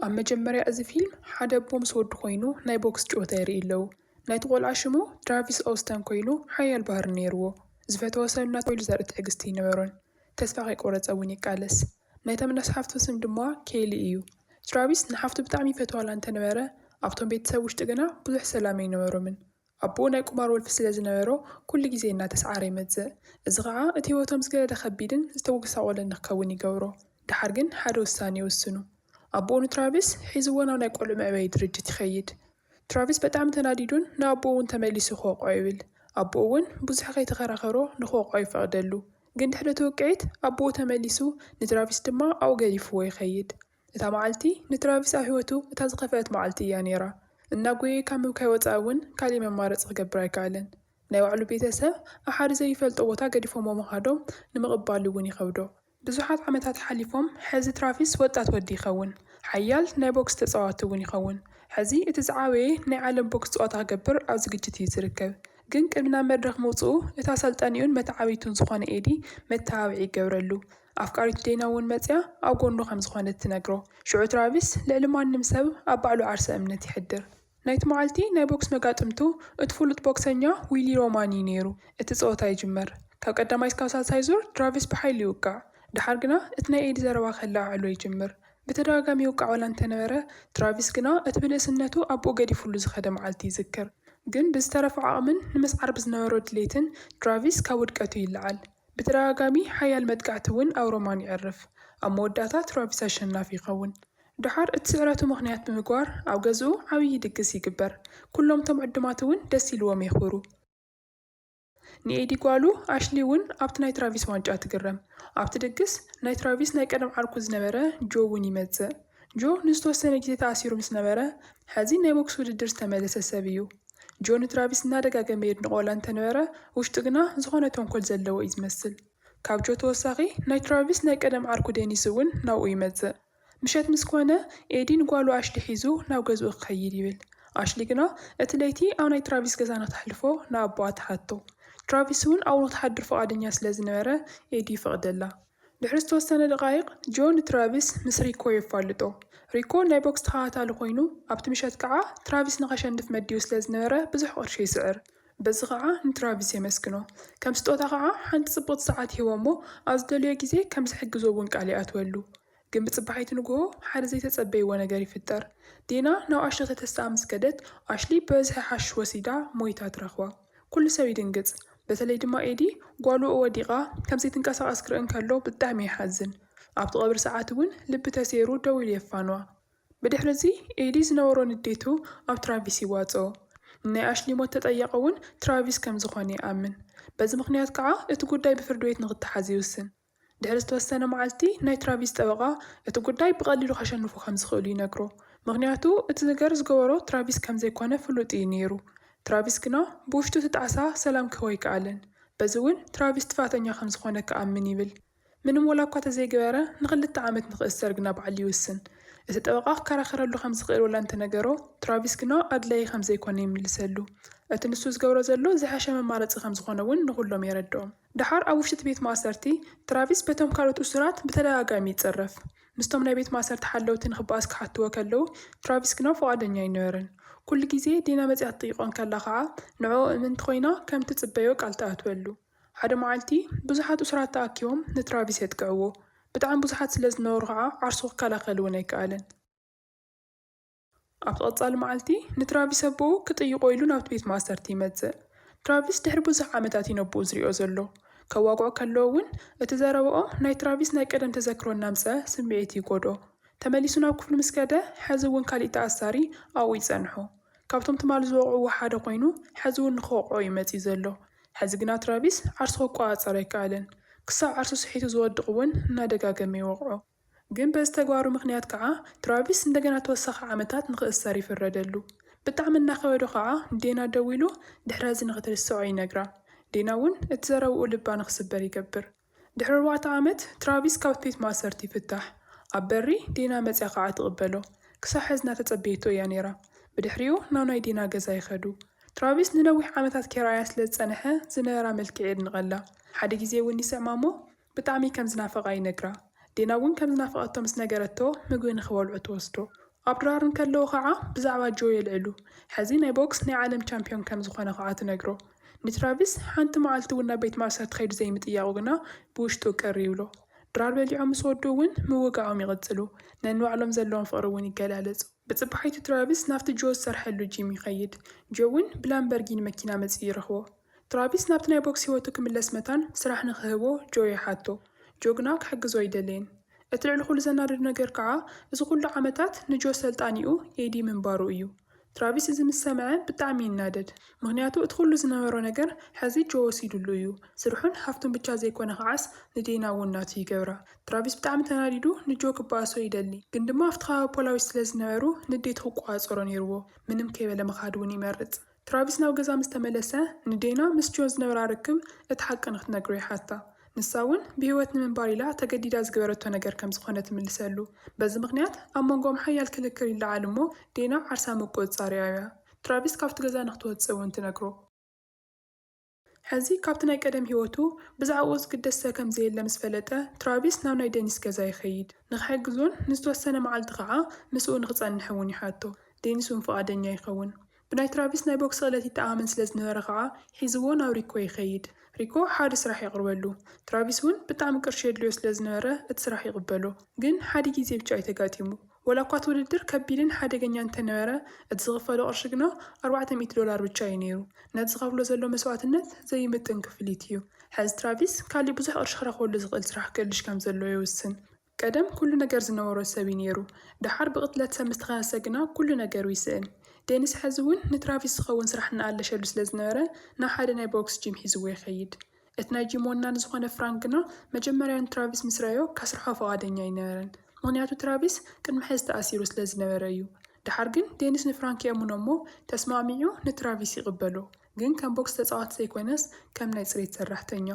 ኣብ መጀመርያ እዚ ፊልም ሓደ ኣቦ ምስ ወዱ ኮይኑ ናይ ቦክስ ጭወታ የርእይ ኣለው ናይቲ ቆልዓ ሽሙ ትራቪስ ኦውስተን ኮይኑ ሓያል ባህሪ ነይርዎ ዝፈተዎ ሰብ እናተባህለ ዘርኢ ትዕግስቲ ኣይነበሮን ተስፋ ከይቆረፀ እውን ይቃለስ ናይቶም ነስ ሓፍቱ ስም ድማ ኬሊ እዩ ትራቪስ ንሓፍቱ ብጣዕሚ ይፈትዋላ እንተነበረ ኣብቶም ቤተሰብ ውሽጢ ግና ብዙሕ ሰላም ኣይነበሮምን ኣቦኡ ናይ ቁማር ወልፊ ስለ ዝነበሮ፣ ኩሉ ግዜ እናተስዓረ ይመጽእ። እዚ ኸኣ እቲ ህይወቶም ዝገደደ ኸቢድን ዝተጐሳቖለን ንክኸውን ይገብሮ። ደሓር ግን ሓደ ውሳነ ይውስኑ። ኣቦኡ ንትራቪስ ሒዝዎ ናብ ናይ ቈልዑ መዕበዪ ድርጅት ይኸይድ። ትራቪስ በጣዕሚ ተናዲዱን ንኣቦኡ እውን ተመሊሱ ክወቕዖ ይብል። ኣቦኡ እውን ብዙሕ ከይተኸራኸሮ ንክወቕዖ ይፈቕደሉ። ግን ድሕሪ እቲ ውቅዒት ኣቦኡ ተመሊሱ ንትራቪስ ድማ ኣብኡ ገዲፍዎ ይኸይድ። እታ መዓልቲ ንትራቪስ ኣብ ህይወቱ እታ ዝኸፍኣት መዓልቲ እያ ነይራ። እናጎየየ ካብ ምብካይ ወጻኢ እውን ካልእ መማረጺ ክገብር ኣይከኣለን። ናይ ባዕሉ ቤተሰብ ኣብ ሓደ ዘይፈልጦ ቦታ ገዲፎምዎ ምኻዶም ንምቕባሉ እውን ይኸብዶ። ብዙሓት ዓመታት ሓሊፎም፣ ሕዚ ትራቪስ ወጣት ወዲ ይኸውን። ሓያል ናይ ቦክስ ተጻዋቲ እውን ይኸውን። ሕዚ እቲ ዝዓበየ ናይ ዓለም ቦክስ ጸወታ ክገብር ኣብ ዝግጅት እዩ ዝርከብ። ግን ቅድሚ ናብ መድረኽ ምውጽኡ እታ ኣሰልጣኒኡን መተዓብይቱን ዝኾነ ኤዲ መተባብዒ ይገብረሉ። ኣፍቃሪቱ ዴና እውን መጺኣ ኣብ ጎኑ ከም ዝኾነት ትነግሮ። ሽዑ ትራቪስ ልዕሊ ማንም ሰብ ኣብ ባዕሉ ዓርሰ እምነት ይሕድር። ናይቲ መዓልቲ ናይ ቦክስ መጋጥምቱ እቲ ፍሉጥ ቦክሰኛ ዊሊ ሮማን እዩ ነይሩ። እቲ ጸወታ ይጅመር። ካብ ቀዳማይ እስካብ ሳልሳይ ዙር ትራቪስ ብሓይሉ ይውቃዕ። ደሓር ግና እቲ ናይ ኤዲ ዘረባ ከለዓዕሎ ይጅምር። ብተደጋጋሚ ይውቃዕ ዋላ እንተነበረ ትራቪስ ግና እቲ ብንእስነቱ ኣቦኡ ገዲፍሉ ዝኸደ መዓልቲ ይዝክር። ግን ብዝተረፈ ዓቕምን ንምስዓር ብዝነበሮ ድሌትን ትራቪስ ካብ ውድቀቱ ይለዓል። ብተደጋጋሚ ሓያል መጥቃዕቲ እውን ኣብ ሮማን የዕርፍ። ኣብ መወዳእታ ትራቪስ ኣሸናፊ ይኸውን። ደሓር እቲ ስዕረቱ ምኽንያት ብምግባር ኣብ ገዝኡ ዓብዪ ድግስ ይግበር። ኩሎም እቶም ዕዱማት እውን ደስ ኢልዎም የኽብሩ። ንኤዲ ጓሉ ኣሽሊ እውን ኣብቲ ናይ ትራቪስ ዋንጫ ትግረም። ኣብቲ ድግስ፣ ናይ ትራቪስ ናይ ቀደም ዓርኩ ዝነበረ ጆ እውን ይመጽእ። ጆ ንዝተወሰነ ግዜ ተኣሲሩ ምስ ነበረ፣ ሕዚ ናይ ቦክስ ውድድር ዝተመለሰ ሰብ እዩ። ጆ ንትራቪስ እናደጋገመ የድንቖ ዋላ እንተነበረ፣ ውሽጡ ግና ዝኾነ ተንኮል ዘለዎ እዩ ዝመስል። ካብ ጆ ተወሳኺ ናይ ትራቪስ ናይ ቀደም ዓርኩ ዴኒስ እውን ናብኡ ይመጽእ። ምሸት ምስ ኮነ፣ ኤዲ ንጓሉ ኣሽሊ ሒዙ ናብ ገዝኡ ክኸይድ ይብል። ኣሽሊ ግና እቲ ለይቲ ኣብ ናይ ትራቪስ ገዛ ንክተሕልፎ ንኣቦኣ ትሓቶ። ትራቪስ እውን ኣብኡ ንክትሓድር ፍቓደኛ ስለ ዝነበረ፣ ኤዲ ይፈቕደላ። ድሕሪ ዝተወሰነ ደቓይቕ፣ ጆ ንትራቪስ ምስ ሪኮ የፋልጦ። ሪኮ ናይ ቦክስ ተኸታታሊ ኰይኑ፣ ኣብቲ ምሸት ከኣ ትራቪስ ንኸሸንፍ መዲቡ ስለ ዝነበረ ብዙሕ ቅርሺ ይስዕር። በዚ ኸኣ ንትራቪስ የመስግኖ። ከም ስጦታ ኸኣ ሓንቲ ጽብቕቲ ሰዓት ይህቦ'ሞ ኣብ ዝደልዮ ግዜ ከም ዝሕግዞ'ውን ቃል ይኣትወሉ። ግን ብጽባሒቱ ንግሆ ሓደ ዘይተጸበይዎ ነገር ይፍጠር። ዲና ናብ ኣሽሊ ከተስተኣ ምስ ከደት፣ ኣሽሊ ብበዝሒ ሓሽሽ ወሲዳ ሞይታ ትረኽባ። ኩሉ ሰብ ይድንግጽ፣ በተለይ ድማ ኤዲ ጓሉ ወዲቓ ከም ዘይትንቀሳቐስ ክርኢ እንከሎ ብጣዕሚ ይሓዝን። ኣብቲ ቀብሪ ሰዓት እውን ልቢ ተሰይሩ ደው ኢሉ የፋንዋ። ብድሕሪ'ዚ ኤዲ ዝነበሮ ንዴቱ ኣብ ትራቪስ ይዋጽኦ። ንናይ ኣሽሊ ሞት ተጠያቒ እውን ትራቪስ ከም ዝኾነ ይኣምን። በዚ ምኽንያት ከኣ እቲ ጉዳይ ብፍርዲ ቤት ንኽተሓዝ ይውስን። ድሕሪ ዝተወሰነ መዓልቲ፣ ናይ ትራቪስ ጠበቓ እቲ ጉዳይ ብቐሊሉ ከሸንፉ ከም ዝኽእሉ ይነግሮ፣ ምኽንያቱ እቲ ነገር ዝገበሮ ትራቪስ ከም ዘይኰነ ፍሉጥ እዩ ነይሩ። ትራቪስ ግና ብውሽጡ እቲ ጣዕሳ ሰላም ክህቦ ኣይከኣለን፣ በዚ እውን ትራቪስ ጥፋኣተኛ ከም ዝዀነ ክኣምን ይብል። ምንም ወላ እኳ ተዘይገበረ ንኽልተ ዓመት ንኽእሰር ግና ባዕሉ ይውስን። እቲ ጠበቓ ክከራኸረሉ ከም ዝኽእል ወላ እንተ ነገሮ፣ ትራቪስ ግና ኣድላዪ ከም ዘይኰነ ይምልሰሉ። እቲ ንሱ ዝገብሮ ዘሎ ዝሐሸ መማረፂ ከም ዝዀነ እውን ንዅሎም የረድኦም። ደሓር ኣብ ውሽጢ'ቲ ቤት ማእሰርቲ፣ ትራቪስ በቶም ካልኦት እሱራት ብተደጋጋሚ ይጽረፍ። ምስቶም ናይ ቤት ማእሰርቲ ሓለውቲ ንኽበኣስ ክሓትዎ ከለዉ፣ ትራቪስ ግና ፍቓደኛ ኣይነበረን። ኩሉ ግዜ ዲና መጺኣ ትጥይቖ እንከላ ኸኣ፣ ንዕኡ እምንቲ ኰይና ከም እትጽበዮ ቃል ትኣትወሉ። ሓደ መዓልቲ፣ ብዙሓት እሱራት ተኣኪቦም ንትራቪስ የጥቅዕዎ። ብጣዕሚ ብዙሓት ስለ ዝነበሩ ኸኣ ዓርሱ ክከላኸል'ውን ኣይከኣለን። ኣብቲ ቀጻሊ መዓልቲ፣ ንትራቪስ ኣቦኡ ክጥይቖ ኢሉ ናብቲ ቤት ማእሰርቲ ይመጽእ። ትራቪስ ድሕሪ ብዙሕ ዓመታት እዩ ነቦኡ ዝሪኦ ዘሎ። ከዋግዖ ከሎ እውን እቲ ዘረባኦ ናይ ትራቪስ ናይ ቀደም ተዘክሮ እናምጽኣ ስምዒቱ ይጎድኦ። ተመሊሱ ናብ ክፍሉ ምስ ከደ፣ ሐዚ እውን ካሊእ ተኣሳሪ ኣብኡ ይጸንሖ። ካብቶም ትማሊ ዝወቕዕዎ ሓደ ኮይኑ ሐዚ እውን ንክወቕዖ እዩ መጺኡ ዘሎ። ሐዚ ግና ትራቪስ ዓርሱ ክቆጻጸር ኣይከኣለን። ክሳብ ዓርሱ ስሒቱ ዝወድቕ እውን እናደጋገመ ይወቕዖ። ግን በዚ ተግባሩ ምኽንያት ከዓ ትራቪስ እንደገና ተወሳኺ ዓመታት ንኽእሰር ይፍረደሉ። ብጣዕሚ እናኸበዶ ከዓ ንዴና ደዊሉ ድሕረዚ ንኽትርስዖ ይነግራ። ዴና እውን እቲ ዘረብኡ ልባ ንኽስበር ይገብር። ድሕሪ ኣርባዕተ ዓመት ትራቪስ ካብቲ ቤት ማእሰርቲ ይፍታሕ። ኣብ በሪ ዴና መፅያ ከዓ ትቕበሎ። ክሳዕ ሐዚ እናተፀበየቶ እያ ነይራ። ብድሕሪኡ ናብ ናይ ዴና ገዛ ይኸዱ። ትራቪስ ንነዊሕ ዓመታት ከይረኣያ ስለዝፀነሐ ዝነበራ መልክዕ የድንቐላ። ሓደ ግዜ እውን ይስዕማ እሞ ብጣዕሚ ከም ዝናፈቓ ይነግራ። ዴና እውን ከም ዝናፈቐቶ ምስ ነገረቶ ምግቢ ንኽበልዑ ትወስዶ። ኣብ ድራር እንከለዉ ኸዓ ብዛዕባ ጆ የልዕሉ። ሕዚ ናይ ቦክስ ናይ ዓለም ቻምፒዮን ከም ዝኾነ ኸዓ ትነግሮ። ንትራቪስ ሓንቲ መዓልቲ እውን ናብ ቤት ማእሰርቲ ከይዱ ዘይምጥያቑ ግና ብውሽጡ ቅር ይብሎ። ድራር በሊዖም ምስ ወድኡ እውን ምውጋኦም ይቕፅሉ። ነንባዕሎም ዘለዎም ፍቕሪ እውን ይገላለፁ። ብፅባሒቱ ትራቪስ ናብቲ ጆ ዝሰርሐሉ ጂም ይኸይድ። ጆ እውን ብላምበርጊኒ መኪና መፂኡ ይረኽቦ። ትራቪስ ናብቲ ናይ ቦክስ ህይወቱ ክምለስ መታን ስራሕ ንኽህቦ ጆ ይሓቶ። ጆ ግና ክሕግዞ ኣይደለየን። እቲ ልዕሊ ኹሉ ዘናድድ ነገር ከዓ እዚ ኹሉ ዓመታት ንጆ ሰልጣኒኡ ኤዲ ምንባሩ እዩ። ትራቪስ እዚ ምስ ሰምዐ ብጣዕሚ ይናደድ። ምኽንያቱ እቲ ኹሉ ዝነበሮ ነገር ሐዚ ጆ ወሲድሉ እዩ። ስርሑን ሃፍቱን ብቻ ዘይኮነ ከዓስ ንዴና እውን ናቱ ይገብራ። ትራቪስ ብጣዕሚ ተናዲዱ ንጆ ክበኣሶ ይደሊ። ግን ድማ ኣብቲ ከባቢ ፖላዊስ ስለዝነበሩ ንዴቱ ክቆፃፀሮ ነይርዎ። ምንም ከይበለ ምኻድ እውን ይመርፅ። ትራቪስ ናብ ገዛ ምስ ተመለሰ፣ ንዴና ምስ ጆን ዝነበራ ርክብ እቲ ሓቂ ንኽትነግሮ ይሓታ። ንሳ እውን ብህይወት ንምንባር ኢላ ተገዲዳ ዝገበረቶ ነገር ከም ዝዀነ ትምልሰሉ። በዚ ምኽንያት ኣብ መንጎኦም ሓያል ክልክል ይለዓል እሞ ዴና ዓርሳ ምቍጽጻር የዕብያ። ትራቪስ ካብቲ ገዛ ንኽትወጽእ እውን ትነግሮ። ሕዚ ካብቲ ናይ ቀደም ህይወቱ ብዛዕባኡ ዝግደሰ ከም ዘየለ ምስ ፈለጠ፣ ትራቪስ ናብ ናይ ደኒስ ገዛ ይኸይድ። ንኽሕግዞን ንዝተወሰነ መዓልቲ ኸኣ ምስኡ ንኽጸንሕ እውን ይሓቶ። ደኒስ እውን ፍቓደኛ ይኸውን። ብናይ ትራቪስ ናይ ቦክሲ ክእለት ይተኣማመን ስለ ዝነበረ ኸኣ ሒዝዎ ናብ ሪኮ ይኸይድ። ሪኮ ሓደ ስራሕ የቕርበሉ። ትራቪስ እውን ብጣዕሚ ቅርሺ የድልዮ ስለ ዝነበረ እቲ ስራሕ ይቕበሎ። ግን ሓደ ግዜ ብቻ እዩ ተጋጢሙ። ወላ እኳ እቲ ውድድር ከቢድን ሓደገኛን እንተነበረ፣ እቲ ዝኽፈሎ ቅርሺ ግና ኣርባዕተ ሚእቲ ዶላር ብቻ እዩ ነይሩ። ነቲ ዝኸፍሎ ዘሎ መስዋእትነት ዘይምጥን ክፍሊት እዩ። ሕዚ ትራቪስ ካሊእ ብዙሕ ቅርሺ ክረኽበሉ ዝኽእል ስራሕ ክእልሽ ከም ዘለዎ ይውስን። ቀደም ኩሉ ነገር ዝነበሮ ሰብ እዩ ነይሩ፣ ደሓር ብቕትለት ሰብ ምስ ተኸሰሰ ግና ኩሉ ነገሩ ይስእን። ዴኒስ ሕዚ እውን ንትራቪስ ዝኸውን ስራሕ እናኣለሸሉ ስለ ዝነበረ ናብ ሓደ ናይ ቦክስ ጂም ሒዝዎ ይኸይድ። እቲ ናይ ጂም ወናኒ ዝዀነ ፍራንክ ግና መጀመርያ ንትራቪስ ምስ ረኣዮ ከስርሖ ፍቓደኛ ኣይነበረን፣ ምኽንያቱ ትራቪስ ቅድሚ ሕዚ ተኣሲሩ ስለ ዝነበረ እዩ። ደሓር ግን ዴኒስ ንፍራንክ የእምኖ እሞ ተስማዕሚዑ ንትራቪስ ይቕበሎ፣ ግን ከም ቦክስ ተጻዋቲ ዘይኰነስ ከም ናይ ጽሬት ሰራሕተኛ።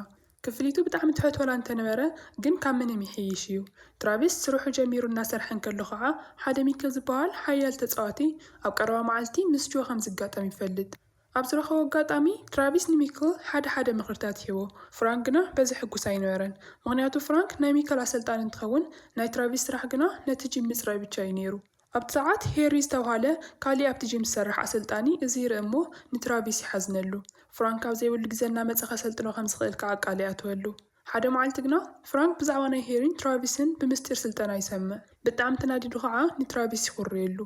ክፍሊቱ ብጣዕሚ ትሑት ዋላ እንተነበረ ግን ካብ ምንም ይሕይሽ እዩ። ትራቪስ ስርሑ ጀሚሩ እናሰርሐ እንከሎ ኸኣ ሓደ ሚኪል ዝበሃል ሓያል ተጻዋቲ ኣብ ቀረባ መዓልቲ ምስ ጆ ከም ዝጋጠም ይፈልጥ። ኣብ ዝረኸቦ ኣጋጣሚ፣ ትራቪስ ንሚክል ሓደ ሓደ ምኽርታት ይህቦ፣ ፍራንክ ግና በዚ ሕጉስ ኣይነበረን። ምኽንያቱ ፍራንክ ናይ ሚክል ኣሰልጣኒ እንትኸውን፣ ናይ ትራቪስ ስራሕ ግና ነቲ ጂም ምጽራይ ብቻ እዩ ነይሩ። ኣብቲ ሰዓት፣ ሄሪ ዝተብሃለ ካልእ ኣብቲ ጂም ዝሰርሕ ኣሰልጣኒ እዚ ይርኢ እሞ ንትራቪስ ይሓዝነሉ። ፍራንክ ኣብ ዘይብሉ ግዜ እናመጸ ከሰልጥኖ ከም ዝኽእል ከኣ ቃል ይኣትወሉ። ሓደ መዓልቲ ግና፣ ፍራንክ ብዛዕባ ናይ ሄሪን ትራቪስን ብምስጢር ስልጠና ይሰምዕ። ብጣዕሚ ተናዲዱ ከኣ ንትራቪስ ይኹርየሉ።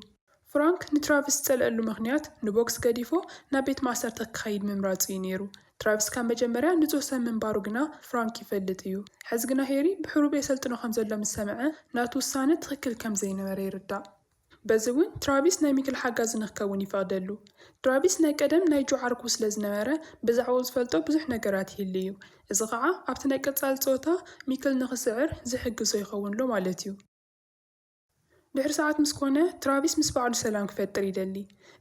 ፍራንክ ንትራቭስ ዝጸልኣሉ ምኽንያት ንቦክስ ገዲፉ ናብ ቤት ማእሰርቲ ክኸይድ ምምራጹ እዩ ነይሩ። ትራቭስ ካብ መጀመርያ ንጹህ ሰብ ምንባሩ ግና ፍራንክ ይፈልጥ እዩ። ሕዚ ግና ሄሪ ብሕቡብ የሰልጥኖ ከም ዘሎ ምስ ሰምዐ ናቱ ውሳነ ትኽክል ከም ዘይነበረ ይርዳእ። በዚ እውን ትራቪስ ናይ ሚክል ሓጋዚ ንክከውን ይፈቕደሉ። ትራቪስ ናይ ቀደም ናይ ጆ ዓርኩ ስለ ዝነበረ ብዛዕባኡ ዝፈልጦ ብዙሕ ነገራት ይህሉ እዩ። እዚ ኸኣ ኣብቲ ናይ ቀጻሊ ጸወታ ሚክል ንክስዕር ዝሕግዞ ይኸውንሎ ማለት እዩ። ድሕሪ ሰዓት ምስ ኰነ፣ ትራቪስ ምስ ባዕሉ ሰላም ክፈጥር ይደሊ።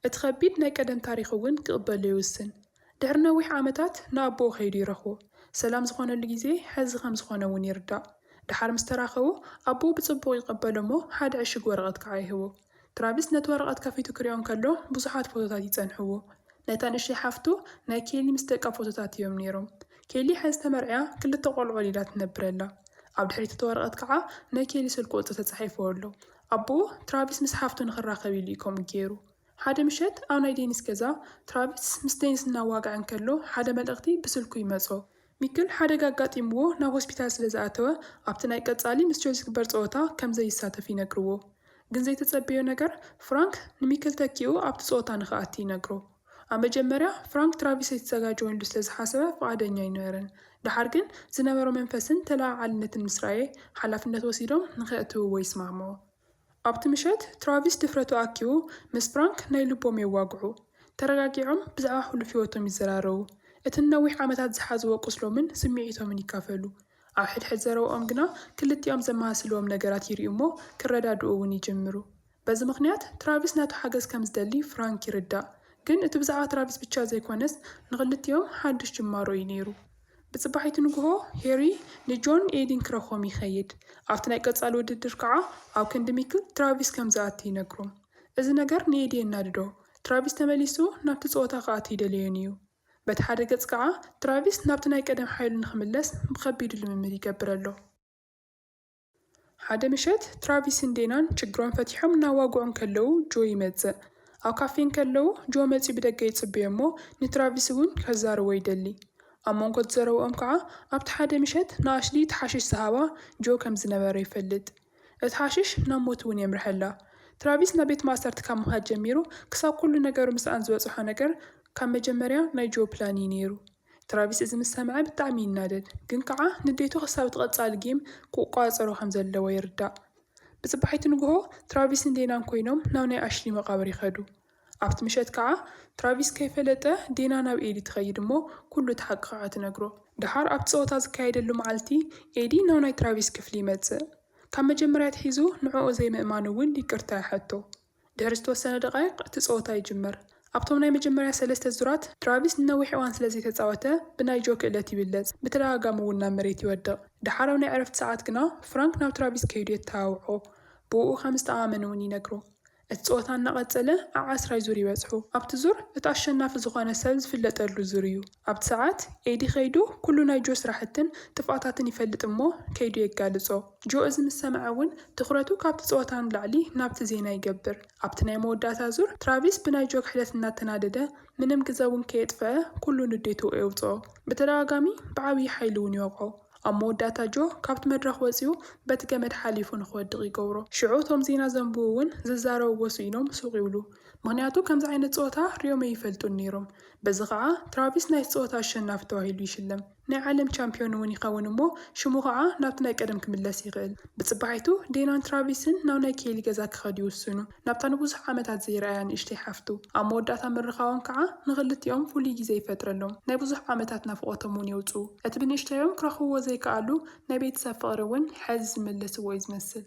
እቲ ኸቢድ ናይ ቀደም ታሪኽ እውን ክቕበሎ ይውስን። ድሕሪ ነዊሕ ዓመታት ንኣቦኡ ከይዱ ይረኽቦ። ሰላም ዝዀነሉ ግዜ ሕዚ ከም ዝዀነ እውን ይርዳእ። ደሓር ምስ ተራኸቡ፣ ኣቦኡ ብጽቡቕ ይቐበሎ እሞ ሓደ ዕሽግ ወረቐት ከኣ ይህቦ። ትራቪስ ነቲ ወረቐት ከፊቱ ክሪኦ እንከሎ ብዙሓት ፎቶታት ይጸንሕዎ። ናይታ ንእሽተይ ሓፍቱ ናይ ኬሊ ምስ ደቃ ፎቶታት እዮም ነይሮም። ኬሊ ሓዚ ተመርዕያ ክልተ ቆልዑ ወሊዳ ትነብር ኣላ። ኣብ ድሕሪት እቲ ወረቐት ከዓ ናይ ኬሊ ስልኪ ቁፅሪ ተፃሒፉ ኣሎ። ኣቦኡ ትራቪስ ምስ ሓፍቱ ንኽራኸብ ኢሉ እዩ ከምኡ ገይሩ። ሓደ ምሸት ኣብ ናይ ዴኒስ ገዛ ትራቪስ ምስ ዴኒስ እናዋግዐ እንከሎ ሓደ መልእኽቲ ብስልኩ ይመፆ። ሚክል ሓደጋ ኣጋጢምዎ ናብ ሆስፒታል ስለ ዝኣተወ ኣብቲ ናይ ቀፃሊ ምስ ቸልሲ ዝግበር ፀወታ ከም ዘይሳተፍ ይነግርዎ። ግን ዘይተፀበዮ ነገር ፍራንክ ንሚክል ተኪኡ ኣብቲ ፀወታ ንኽኣቲ ይነግሮ። ኣብ መጀመርያ ፍራንክ ትራቪስ ኣይተዘጋጀወሉ ስለ ዝሓሰበ ፍቓደኛ ኣይነበረን። ደሓር ግን ዝነበሮ መንፈስን ተለዓዓልነትን ምስ ረኣየ ሓላፍነት ወሲዶም ንኸእትውዎ ይስማዕምዑ። ኣብቲ ምሸት ትራቪስ ድፍረቱ ኣኪቡ ምስ ፍራንክ ናይ ልቦም የዋግዑ። ተረጋጊዖም ብዛዕባ ሕሉፍ ህይወቶም ይዘራረቡ። እቲ ንነዊሕ ዓመታት ዝሓዝዎ ቁስሎምን ስምዒቶምን ይካፈሉ። ኣብ ሕድሕድ ዘረብኦም ግና ክልቲኦም ዘመሳስልዎም ነገራት ይርእዩ'ሞ ክረዳድኡ'ውን ይጅምሩ። በዚ ምኽንያት ትራቪስ ነቱ ሓገዝ ከም ዝደሊ ፍራንክ ይርዳእ። ግን እቲ ብዛዕባ ትራቪስ ብቻ ዘይኮነስ ንኽልቲኦም ሓዱሽ ጅማሮ እዩ ነይሩ። ብጽባሒቱ ንግሆ ሄሪ ንጆን ኤዲን ክረኽቦም ይኸይድ። ኣብቲ ናይ ቀጻሊ ውድድር ከኣ ኣብ ክንዲ ሚክል ትራቪስ ከም ዝኣቲ ይነግሮም። እዚ ነገር ንኤዲ የናድዶ። ትራቪስ ተመሊሱ ናብቲ ጸወታ ክኣቱ ኣይደለዮን እዩ። በቲ ሓደ ገጽ ከኣ ትራቪስ ናብቲ ናይ ቀደም ሓይሉ ንኽምለስ ብኸቢዱ ልምምድ ይገብር ኣሎ። ሓደ ምሸት ትራቪስን ዴናን ችግሮም ፈቲሖም እናዋግዑ እንከለዉ ጆ ይመጽእ። ኣብ ካፌ እንከለዉ ጆ መጺኡ ብደገ ይጽበዮ'ሞ ንትራቪስ እውን ከዛርቦ ይደሊ። ኣብ መንጎ እቲ ዘረብኦም ከኣ ኣብቲ ሓደ ምሸት ንኣሽሊ እቲ ሓሽሽ ዝሃባ ጆ ከም ዝነበረ ይፈልጥ። እቲ ሓሽሽ ናብ ሞት እውን የምርሐላ። ትራቪስ ናብ ቤት ማእሰርቲ ካብ ምኻድ ጀሚሩ ክሳብ ኩሉ ነገሩ ምስኣን ዝበጽሖ ነገር ካብ መጀመርያ ናይ ጆ ፕላን እዩ ነይሩ። ትራቪስ እዚ ምስ ሰምዐ ብጣዕሚ ይናደድ ግን ከዓ ንዴቱ ክሳብ እቲ ቀፃሊ ጌም ክቋፃፀሮ ከም ዘለዎ ይርዳእ። ብፅባሒቱ ንጉሆ ትራቪስን ዴናን ኮይኖም ናብ ናይ ኣሽሊ መቃብር ይኸዱ። ኣብቲ ምሸት ከዓ ትራቪስ ከይፈለጠ ዴና ናብ ኤዲ ትኸይድ እሞ ኩሉ እቲ ሓቂ ከዓ ትነግሮ። ደሓር ኣብቲ ፀወታ ዝካየደሉ መዓልቲ ኤዲ ናብ ናይ ትራቪስ ክፍሊ ይመፅእ። ካብ መጀመርያ ኣትሒዙ ንዕኡ ዘይምእማኑ እውን ይቅርታ ይሓቶ። ድሕሪ ዝተወሰነ ደቓይቕ እቲ ጸወታ ይጅመር። ኣብቶም ናይ መጀመርያ ሰለስተ ዙራት፣ ትራቪስ ንነዊሕ እዋን ስለ ዘይተጻወተ ብናይ ጆ ክእለት ይብለጽ፣ ብተደጋጋሚ እውን ናብ መሬት ይወድቕ። ደሓር ኣብ ናይ ዕረፍቲ ሰዓት ግና ፍራንክ ናብ ትራቪስ ከይዱ የተሃውዖ፣ ብእኡ ከም ዝተኣኣመን እውን ይነግሮ። እቲ ጸወታ እናቐጸለ ኣብ ዓስራይ ዙር ይበጽሑ። ኣብቲ ዙር እቲ ኣሸናፊ ዝኾነ ሰብ ዝፍለጠሉ ዙር እዩ። ኣብቲ ሰዓት ኤዲ ከይዱ ኩሉ ናይ ጆ ስራሕትን ጥፍኣታትን ይፈልጥ እሞ ከይዱ የጋልጾ። ጆ እዚ ምስ ሰምዐ እውን ትኹረቱ ካብቲ ጸወታ ንላዕሊ ናብቲ ዜና ይገብር። ኣብቲ ናይ መወዳእታ ዙር፣ ትራቪስ ብናይ ጆ ክሕደት እናተናደደ ምንም ግዘ እውን ከየጥፈኣ ኩሉ ንዴቱ ኤውጽኦ። ብተደጋጋሚ ብዓብዪ ሓይሊ እውን ይወቕዖ። ኣብ መወዳእታ ጆ ካብቲ መድረኽ ወጺኡ በቲ ገመድ ሓሊፉ ንክወድቕ ይገብሮ። ሽዑ እቶም ዜና ዘንብቡ እውን ዝዛረብዎ ስኢኖም ሱቕ ይብሉ። ምኽንያቱ ከምዚ ዓይነት ጸወታ ሪኦም ኣይፈልጡን ነይሮም። በዚ ከዓ ትራቪስ ናይቲ ጸወታ ኣሸናፊ ተባሂሉ ይሽለም። ናይ ዓለም ቻምፕዮን'ውን ይኸውን እሞ ሽሙ ኸኣ ናብቲ ናይ ቀደም ክምለስ ይኽእል። ብጽባሒቱ ዴናን ትራቪስን ናብ ናይ ኬሊ ገዛ ክኸዱ ይውስኑ፣ ናብታ ንብዙሕ ዓመታት ዘይርኣያ ንእሽተይ ሓፍቱ። ኣብ መወዳእታ ምርኻቦም ከኣ ንኽልቲኦም ፍሉይ ግዜ ይፈጥረሎም፣ ናይ ብዙሕ ዓመታት ናፍቖቶም'ውን የውጽኡ። እቲ ብንእሽተዮም ክረኽብዎ ዘይከኣሉ ናይ ቤተሰብ ፍቕሪ'ውን ሕዚ ዝመለስዎ'ዩ ዝመስል።